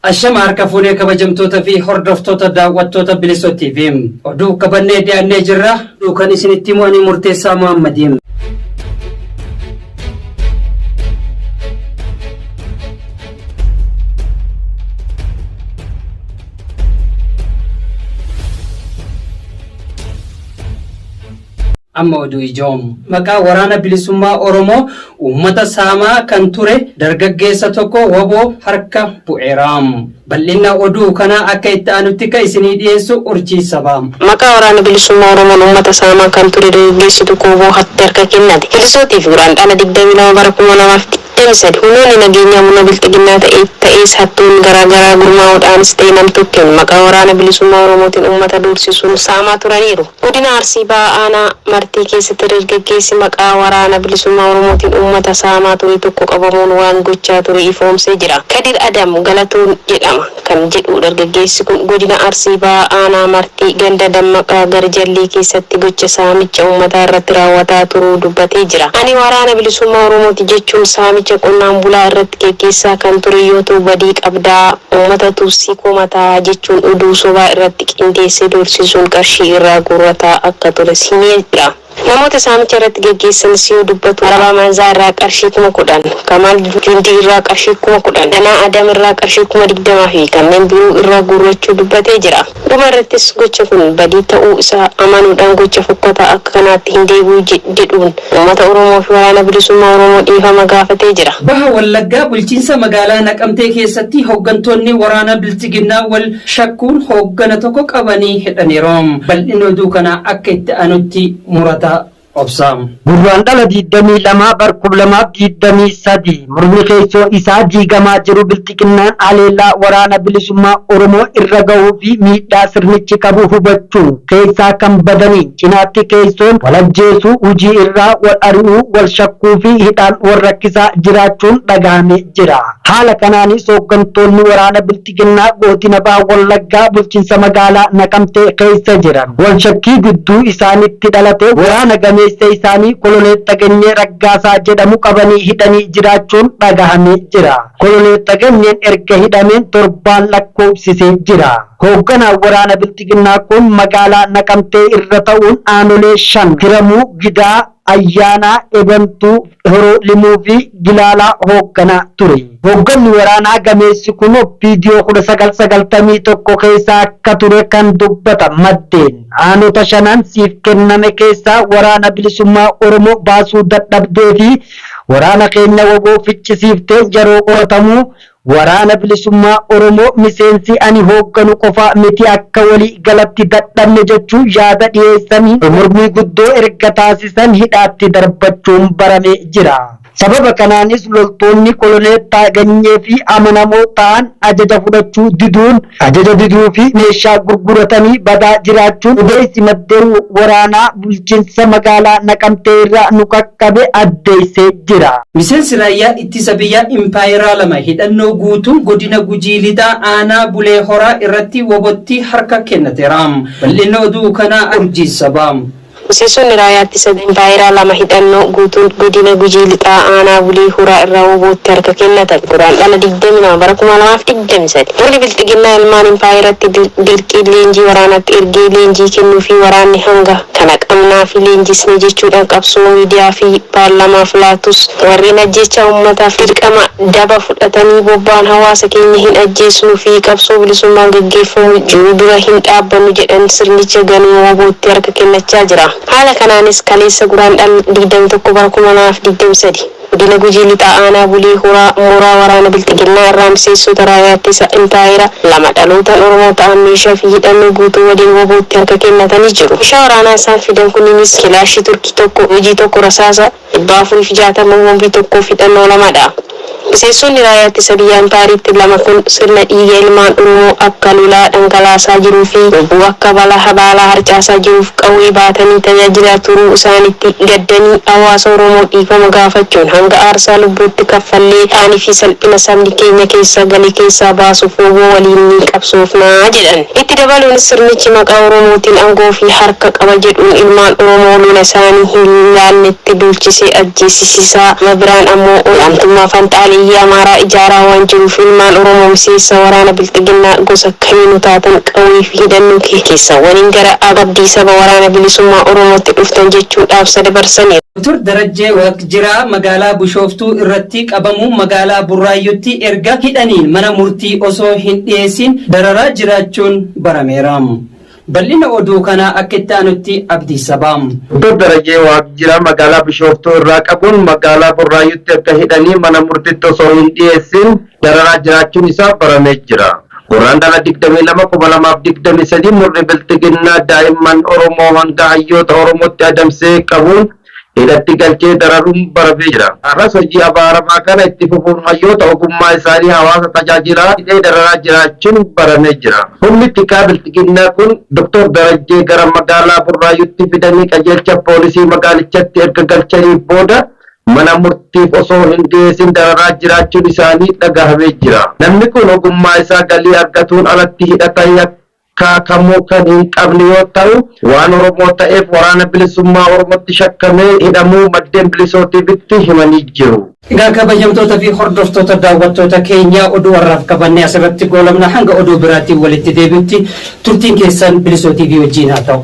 Ashama harka fuunee kabajamtoota fi hordoftoota daawwattoota bilisoo TV. Oduu qabannee dhiyaannee jirra. Oduu kan isinitti himu ani murteessaa Muhammadiin. Amma oduu ijoo. Maqaa Waraana Bilisummaa Oromoo uummata saamaa kan ture dargaggeessa tokko wbo harka bu'eera. Bal'inna oduu kanaa akka itti aanutti kan isinii dhiyeessu Urjii Sabaa. Maqaa Waraana Bilisummaa Oromoon uummata saamaa kan ture dargaggeessi tokko wbo tti harka kennate. Polisootiif Guraandhala 22 bara 2020. Demsed, Humnoonni nageenyaa murna bilxiginnaa ta'e ta'ees hattoonni garaa garaa gurmaa'uudhaanis ta'e namtokkeen maqaa Waraana Bilisummaa Oromootiin ummata doorsisuun saamaa turaniiru. Godina Arsii Bahaa Aanaa Martii keessatti dargaggeessi maqaa Waraana Bilisummaa Oromootiin ummata saamaa ture tokko qabamuun waan gochaa ture ifoomsee jira. Kadir Adam Galatoon jedhama. kan jedhu dargaggeessi kun godina Arsii Bahaa aanaa Martii ganda Dammaqaa Garjallii keessatti gocha saamicha uummataa irratti raawwataa turuu dubbatee jira. Ani Waraana Bilisummaa Oromooti jechuun saamicha qonnaan bulaa irratti geggeessaa kan ture yoo ta'u badii qabdaa, uummata Tuutsii komataa jechuun oduu sobaa irratti qindeessee doorsisuun qarshii irraa guurrataa akka tures himee jira. Namoota saamicha irratti geggeessanis yoo dubbatu Arabaa Maanzaa irraa qarshii kuma kudhan, Kamaal Jundii irraa qarshii kuma kudhan, Danaa Adam irraa qarshii kuma digdama fi kanneen biroo irraa guurrachuu dubbatee jira. Dhuma irrattis gocha kun badii ta'uu isaa amanuudhaan gocha fokkataa akka kanaatti hin deebi'u jedhuun uummata Oromoo fi Waraana Bilisummaa Oromoo dhiifama gaafatee jira. Baha Wallaggaa bulchiinsa magaalaa Naqamtee keessatti hoggantoonni waraana Bilxiginnaa wal shakkuun hooggana tokko qabanii hidhaniiru. Bal'inni oduu kanaa akka itti aanutti Murataa Obsaa. Gurraandhala 22 bar 2023 murni keessoo isaa diigamaa jiru Bilxiginnaan haleellaa Waraana Bilisummaa Oromoo irra gahuu fi miidhaa sirnichi qabu hubachuun keessaa kan badaniin cinaatti keessoon wal ajjeesuu, hujii irraa wal ari'uu, wal shakkuu fi hidhaan wal rakkisaa jiraachuun dhagahame jira. Haala kanaanis hooggantoonni waraana Bilxiginnaa. Bilxiginnaa Goodina Baha Wallaggaa Bulchinsa Magaalaa Naqamtee keessa jiran wal shakkii gidduu isaanitti dhalate waraana gameessa isaanii Koloneel Tagenyee Raggaasaa jedhamu qabanii hidhanii jiraachuun dhagahamee jira. Koloneel Tagenyeen erga hidhameen torbaan lakkoofsisee jira. Hoogganaan waraana Bilxiginnaa kun magaalaa Naqamtee irra ta'uun aanolee shan, Kiramuu, Gidaa, Ayyaanaa Ebantuu, Horoo Limuu fi Gilaalaa hoogganaa ture. Hoogganni waraanaa gameessi kun Oppiidiyoo 1991 keessa akka ture kan dubbatan maddeen, aanota shanan siif kenname keessaa Waraana Bilisummaa Oromoo baasuu dadhabdee fi waraana keenya wbo ficcisiiftee yeroo qoratamu Waraana Bilisummaa Oromoo miseensi ani hoogganu qofa miti akka walii galatti dadhabne jechuun yaada dhiyeessanii mormii guddoo erga taasisan hidhaatti darbachuun baramee jira. Sababa kanaanis loltoonni Koloneel Taaganyee fi amanamoo ta'an ajaja fudhachuu diduun Ajaja diduu fi meeshaa gurguratanii badaa jiraachuun odeessi maddeen waraanaa bulchinsa magaalaa Naqamtee irraa nu qaqqabe addeessee jira. Miseensi Raayyaa Ittisa Biyyaa Impaayeraa lama hidhannoo guutuun Godina Gujii Lixaa Aanaa Bulee Horaa irratti wbo tti harka kennateera. Bal'inni oduu kanaa Urjii Sabaa. Miseensonni Raayyaa Ittisa Biyyaa lama hidhannoo guutuun Godina Gujii Lixaa Aanaa Bulii Huraa irraa WBOtti harka kennatan. Guraandhala 22 bara 2023 murni Bilxiginnaa ilmaan impaayeratti dirqiin leenjii waraanaatti ergee leenjii kennuufii waraanni hanga kana qabnaa fi leenjisne jechuudhaan qabsoo miidiyaa fi paarlamaaf laatus, warreen ajjeechaa ummataaf dirqama daba fudhatanii bobba'an hawaasa keenya hin ajjeesnu fi qabsoo bilisummaan gaggeeffamu jiru dura hin dhaabbannu jedhan sirnicha ganuu wbo-tti harka kennachaa jira. Haala kanaanis kaleessa Guraandhala digdamii tokko bara kuma lamaa fi digdamii sadii Godina Gujii Lixaa Aanaa Bulee Horaa mooraa waraana Bilxiginnaa irraa miseensota Raayyaa Ittisa Impaayera lama dhalootaan Oromoo ta'an meeshaa fi hidhannoo guutuu waliin wbo-tti harka kennatanii jiru. Meeshaa waraanaa isaan fidan kunniinis Kilaashii Turkii, tokko hojii tokko rasaasa 460 boombii tokkoof hidhannoo lama dha. Miseensonni Raayyaa Ittisa Biyyaa Impaayeriitti lama kun sirna dhiiga ilmaan Oromoo akka lolaa dhangalaasaa jiruu fi lubbuu akka balaa habaalaa harcaasaa jiruuf qawwee baatanii tajaajilaa turuu isaanitti gaddanii hawaasa Oromoo dhiifama gaafachuun hanga aarsaa lubbuutti kaffallee qaanii fi salphina sabni keenya keessa gale keessaa baasuuf wbo waliin ni qabsoofna jedhan. Itti dabaluunis sirnichi maqaa Oromootiin angoo fi harka qaba jedhuun ilmaan Oromoo lola isaanii hin laalletti duulchisee ajjeesisisaa, gama biraan ammoo olaantummaa fanxaaleyyii Amaaraa ijaaraa waan jiruuf ilmaan Oromoo miseensa waraana Bilxiginnaa gosa kamiinuu taatan qawwee fi hidhannoo keessan waliin gara abdii saba Waraana Bilisummaa Oromootti dhuftan jechuun dhaamsa dabarsaniiru. Dr. Darajjee Waaqjiraa. jiraa magaalaa bushooftuu irratti qabamuun magaalaa burraayyutti erga hidhaniin mana murtii osoo hin dhiyeessiin dararaa jiraachuun barameera. Bal'ina oduu kanaa akka itti aanutti Abdii Sabaa. Dr Darajee Waaqjiraa magaalaa Bishooftuu irraa qabuun magaalaa Burraayyutti erga hidhanii mana murtitti osoo hin dhiyeessiin dararaa jiraachuun isaa baramee jira. Gurraandhala 22,2023 murni bilxiginnaa daa'imman Oromoo hanga hayyoota Oromootti adamsee qabuun hidhatti galchee dararuun baramee jira. Har'as hojii abaaramaa kana itti fufuun hayyoota ogummaa isaanii hawaasa tajaajilaa hidhee dararaa jiraachuun baramee jira. Humni tikaa bilxiginnaa kun Dr. Darajjee gara magaalaa Burraayyuutti fidanii qajeelcha poolisii magaalichatti erga galchanii booda mana murtiif osoo hin dhiyeessin dararaa jiraachuun isaanii dhagahamee jira. Namni kun ogummaa isaa galii argatuun alatti hidhata Kaa kamuu kan hin qabne yoo ta'u waan Oromoo ta'eef Waraana Bilisummaa Oromootti shakkamee hidhamuu maddeen Bilisoo TV'tti himanii jiru. Egaa kabajamtoota fi hordoftoota daawwattoota keenyaa oduu har'aaf qabanne asirratti goolabna hanga oduu biraatiin walitti deebi'utti turtiin keessan Bilisoo TV wajjiin haa ta'u.